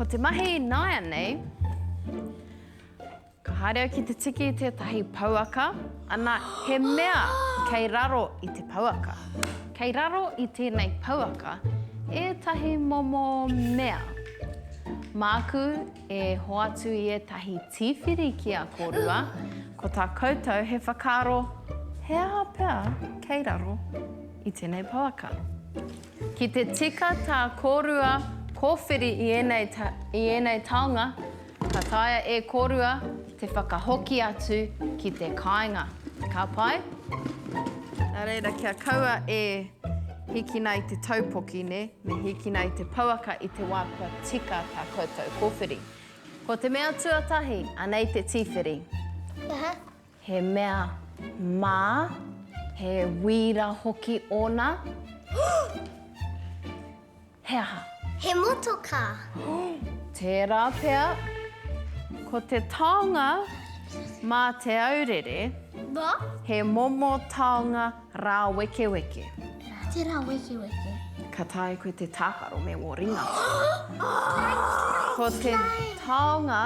Ko te mahi nāianei, ka haere au ki te tiki tētahi pouaka, ana, he mea kei raro i te pouaka. Kei raro i tēnei pouaka ētahi momo mea. Māku e hoatu i ētahi tīwhiri ki a kōrua, ko tā koutou he whakaaro he aha pea kei raro. i tēnei pouaka. Ki te tika tā kōrua kōwhiri i ēnei, i ēnei taonga, ka taea e kōrua te whakahoki atu ki te kāinga. Ka pai? Nā reira, kia kaua e hikina i te taupoki, nē, me hikina i te pouaka i te wā kua tika tā koutou kōwhiri. Ko te mea tuatahi, anei te tīwhiri. Aha. He mea mā, he wīra hoki ōna. He aha? He motokā. Tērā pea. Ko te taonga mā Te Aurere, he momo taonga rāwekeweke. Nā te rāwekeweke. Ka taea koe te tākaro me wō ringa. Ko te taonga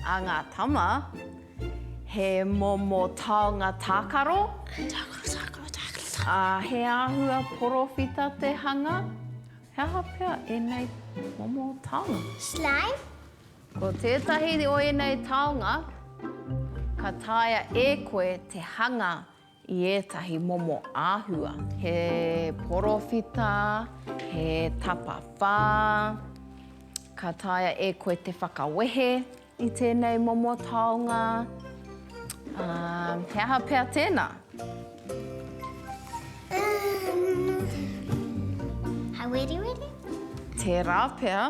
a ngā tama. He momo taonga tākaro. Tākaro, tākaro, tākaro, tākaro. Ā, he āhua porowhita te hanga. He aha pea ēnei momo taonga? Slime. Ko tētahi o ēnei taonga ka taea e koe te hanga I ētahi momo āhua, he porowhita, he tapawhā. Ka taea e koe te whakawehe i tēnei momo taonga. Ā, he aha pea tēnā? Ā, he weriweri? Tērā pea.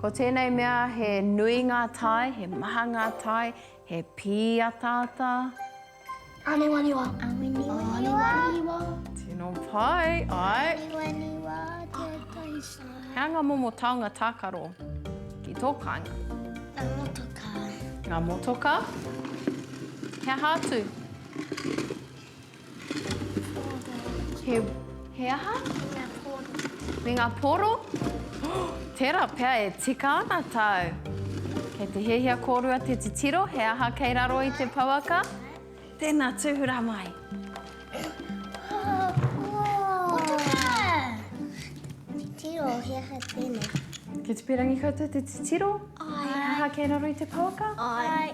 Ko tēnei mea he nui ngā tae, he maha ngā tae, he pīataata. Aniwaniwa. Aniwaniwa. Tino pai, ai. Aniwaniwa, tētahi sā. Hea ngā momo taonga tākaro ki tō kāinga? Ngā motoka. Ngā motoka. He aha atu? He. He aha? Me ngā poro. Me ngā poro? Tērā pea e tika ana tāu. Kei te hiahia kōrua te titiro he aha kei raro i te pouaka. Tēnā, tūhura mai. Titiro, he aha tēnei? Kei te pērangi koutou te titiro? Āe. He aha kei raro i te pouaka? Āe.